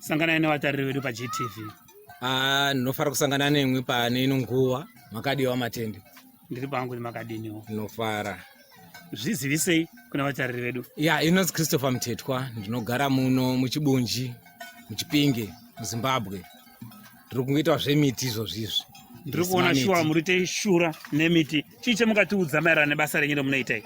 sanganai nevatariri vedu pagtv ah, ndinofara kusangana nemwi pane ino nguva makadiwa matende ndiri pangu kuti makadiniwo ndinofara zvizivisei kuna vatariri vedu ya inonzi christopher mtetwa ndinogara muno muchibunji muchipinge muzimbabwe tiri kungoita zvemiti izvozvi izvi ndiri kuona shuwa muri teishura nemiti chii chemukatiudza maererano nebasa renyu remunoitai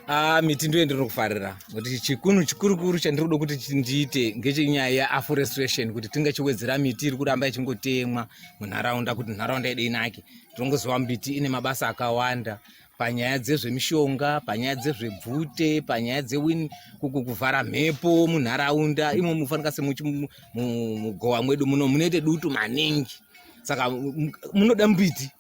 a ah, miti ndoye ndiri kufarira kuti chikunhu chikurukuru chandiri kuda kuti ndiite ngechenyaya yeaforestation kuti tingachiwedzera miti iri kuramba ichingotemwa munharaunda kuti nharaunda yedu inake tinongozova miti ine mabasa akawanda panyaya dzezvemishonga panyaya dzezvebvute panyaya dzewin kuvhara mhepo munharaunda imo mufanika semugowa mwedu muno munoite dutu maningi saka munoda mbiti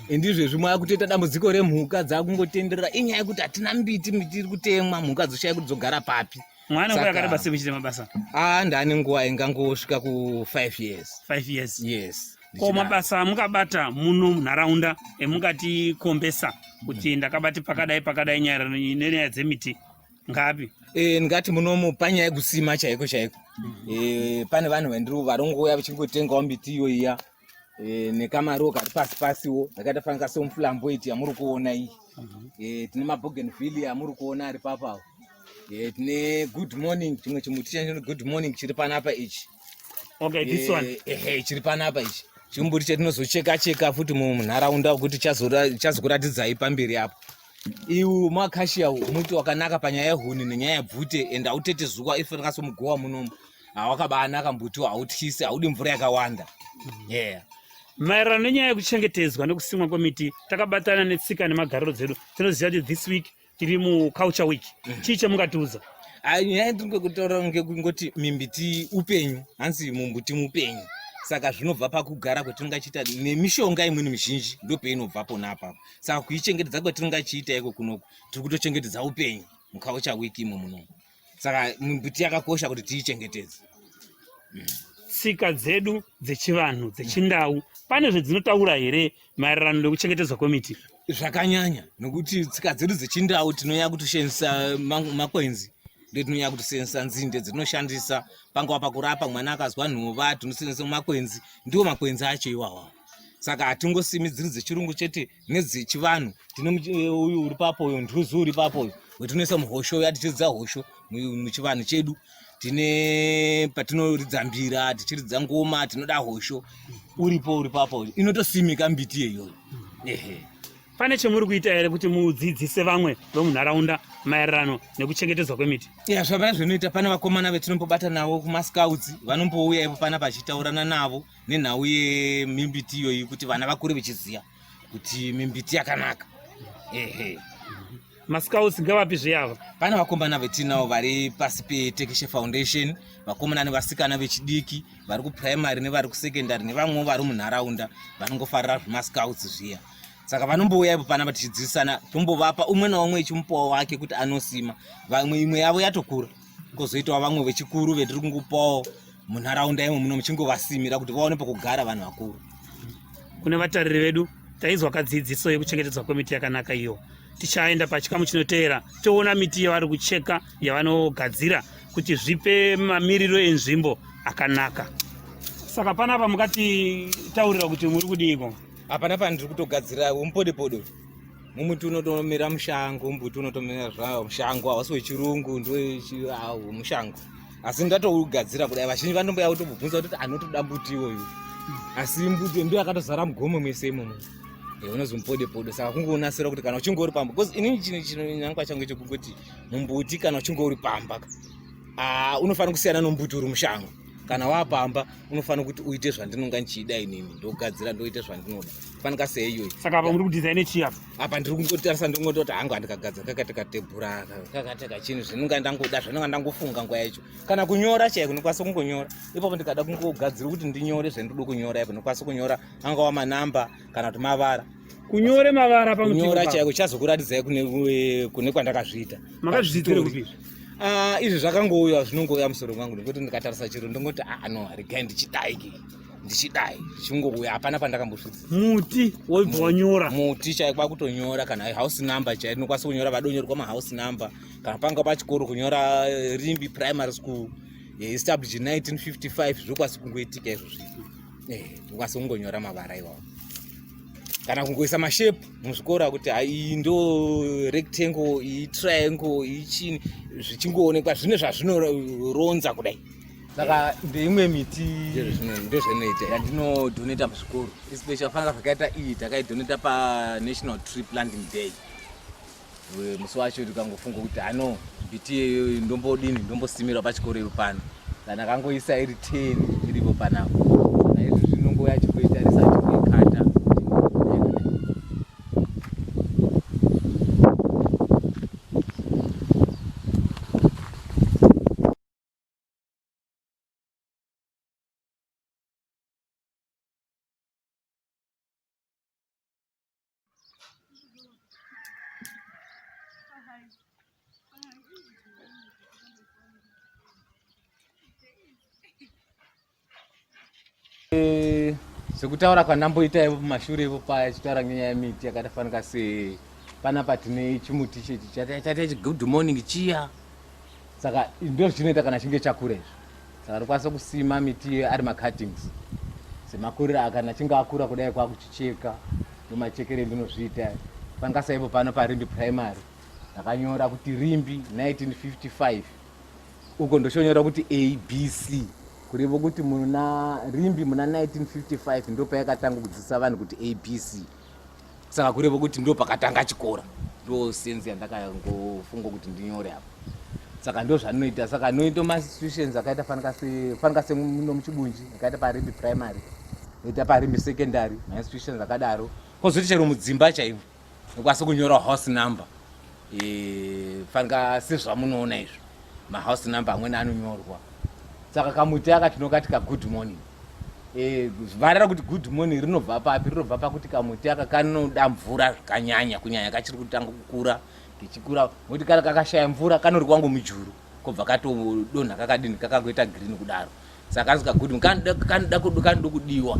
ndizvezvi mwakutoita dambudziko remhuka dzakungotenderera inyaya yekuti hatina mbiti miti iri kutemwa mhuka dzoshaya kuti dzogara papi mwana nguva yakareba sei muchiita mabasa ah ndane nguva ingangosvika ku 5 years 5 years yes ko mabasa amukabata muno munharaunda emungati kombesa kuti ndakabati pakadai pakadai nyaya nenyaya dzemiti ngapi e, ndingati munomu panyaya yekusima chaiko chaiko mm -hmm. e, pane vanhu vandiri varongouya vachingotengawo miti iyo iya e, nekamaruwa kari pasi pasiwo akaita fanika somuflamboiti yamuri kuona iyi mhm. e, tine mabogenville yamuri kuona ari papawo e, tine good morning chimwe chimuti chachino good morning chiri panapa ichi okay, this one. E, e, chiri panapa ichi chimbuti chetinozocheka cheka futi munharaunda kuti chazokuratidzai pamberi apo iwu makashiya muti wakanaka panyaya yehuni nenyaya yebvute and autete zuva ifanira somugowa munomu awakabanaka mbuti hautyisi haudi mvura yakawanda mm-hmm. yeah maererano nenyaya yekuchengetedzwa nekusimwa kwemiti takabatana netsika nemagariro dzedu tinoziva kuti this week tiri muculture week mm-hmm. chii chamungatiudza ah, nyaya yatirikwekutaura ngekungoti mimbiti upenyu hanzi mumbuti mupenyu saka zvinobva pakugara kwatiringachiita nemishonga imweni mizhinji ndopainobva pona apapo saka kuichengetedza kwatiringachiita iko kunoku tiri kutochengetedza upenyu mukaucha wiki imo munomu saka miti yakakosha kuti tiichengetedze mm. tsika dzedu dzechivanhu dzechindau pane zvedzinotaura here maererano nekuchengetedzwa kwemiti zvakanyanya nokuti tsika dzedu dzechindau tinonyaya kutoshandisa makwenzi ndo tinonyaya kutosenzesa nzinde dzatinoshandisa pangava pakurapa mwana akazwa nhova tinosenzesa makwenzi ndiwo makwenzi acho iwawa saka hatingosimi dziri dzechirungu chete nedzechivanhu tine eh, uyu uri papo uyo nduzu uri papo uyo wetinoisa muhosho uya tichiridza hosho muchivanhu chedu tine patinoridza mbira tichiridza ngoma tinoda hosho uripo uri papo uyo inotosimika mbiti yeyoyo ehe pane chemuri kuita here kuti mudzidzise vamwe vemunharaunda maererano nekuchengetedzwa kwemiti ya zvavana zvinoita pane vakomana vetinombobata navo kumascouts vanombouya ipo pana pachitaurana navo nenhau yemimbiti iyoyi kuti vana vakure vechiziva kuti mimbiti yakanaka ehe mascouts ngavapi zveyava pane vakomana vetinawo vari pasi petekeshe foundation vakomana nevasikana vechidiki vari kuprimary nevari kusecondary nevamwewo vari munharaunda vanongofarira zvemascouts zviya saka vanombouya ipo panapa tichidzidzisana tombovapa umwe naumwe echimupawo wake kuti anosima vamwe imwe yavo yatokura kozoitawo vamwe vechikuru vetiri kungopawo munharaunda imwe muno muchingovasimira kuti vaone pokugara vanhu vakuru kune vatariri vedu taizwa kadzidziso yekuchengetedzwa kwemiti yakanaka iyo tichaenda pachikamu chinoteera toona miti yavari kucheka yavanogadzira kuti zvipe mamiriro enzvimbo akanaka saka panapa mukatitaurira kuti muri kudiiko hapana pandiri kutogadzira umpodepodo mumuti unotomera mushango mbuti unotomera zvawo mushango hausi wechirungu ndowechiawo mushango asi ndatougadzira kudai vazhinji vanomboya kutobvunza kuti anotoda mbuti iwoyu asi mbuti ndo akatozara mugomo mese imomo eh, unonzi mupodepodo saka kungounasira kuti kana uchinge uri pamba bcause inini chino chinonyangwa changu chekungoti mumbuti kana uchinge uri pamba ah, unofanira kusiyana nombuti uri mushango kana wapamba unofanira kuti uite zvandinonga ndichiida inini ndogadzira ndoita zvandinoda fanika seiyoyi saka apa muri kudesign chii apa apa ndiri kungotarisa ndingototi hangu handikagadzira kakati katebhura kakati kachini zvinonga ndangoda zvinonga ndangofunga nguva yacho kana kunyora chaiko ndikwanisa kungonyora ipapo ndikada kungogadzira kuti ndinyore zvandinoda kunyora ipo ndikwanisa kunyora angava manamba kana kuti mavara kunyore mavara pamunyora chaiko chazokuratidzai kune kune kwandakazviita makazviitire kupi ah, izvi zvakangouya zvinongouya musoro mwangu nekuti ndikatarisa chiro ndongoti ah no regai ndichidaiki ndichidai chingouya hapana pandakambosvitsa muti wobva wanyora muti chaiko kwakutonyora kana house number chaiko ndinokwanisa kunyora vadonyorwa mahouse number kana panga pachikoro kunyora eh, rimbi primary school eh, established in 1955 zvokwasi kungoitika izvozvi eh, ndokwanisa kungonyora mavara iwawo kana kungoisa mashape muzvikora kuti iyi ndo rectangle iyi triangle iyi chini zvichingoonekwa zvine zvazvinoronza kudai saka ndeimwe miti ndozvinoita yandinodoneta muzvikoro especially fanira zvakaita iyi takaidoneta panational tree planting day musi wacho ndikangofunga kuti ano mbiti iyoyo ndombodini ndombosimira pachikoro ipo pano kana akangoisa iri ten iripo panapo kana izvo zvinongo yachikoitarisa achikoikata Eh, zvekutaura kwandamboita ivo mumashure ivo paya chitaura ngenyaya yemiti yakatafanika se panapa tine chimuti chechi chataita chigudmorning chiya saka ndozvinoita kana chinge chakura izvo saka ndokwanisa kusima miti ari macuttings semakuriro akana chinge akura kudai kwakuchicheka nomachekere ndinozviita pangasaipo pano parimbi primary ndakanyora kuti rimbi 1955 uko ndochonyora kuti abc kurevo kuti muna rimbi muna 1955 ndopayakatanga kudzidzisa vanhu kuti abc saka kurevo kuti ndo pakatanga chikora ndo sense yandakangofunga kuti ndinyore apa saka ndo zvandinoita saka noita mastitutions akaita fanika se fanika se muno muchibunji akaita parimbi primary noita parimbi secondary mastitutions akadaro kozoti chero mudzimba chaivo nokwanisa kunyora house number e, fanika sezvamunoona izvo mahouse number amweni anonyorwa saka kamuti aka tinokati ka good morning Eh, vhara rakuti good morning rinobva papi rinobva pakuti kamuti aka kanoda mvura zvakanyanya kunyanya kachiri kutanga kukura kichikura moti kana kakashaya mvura kanori kwangu mujuru kobva katodonha kakadini kakakuita green kudaro saka kanzi ka good kanoda kudiwa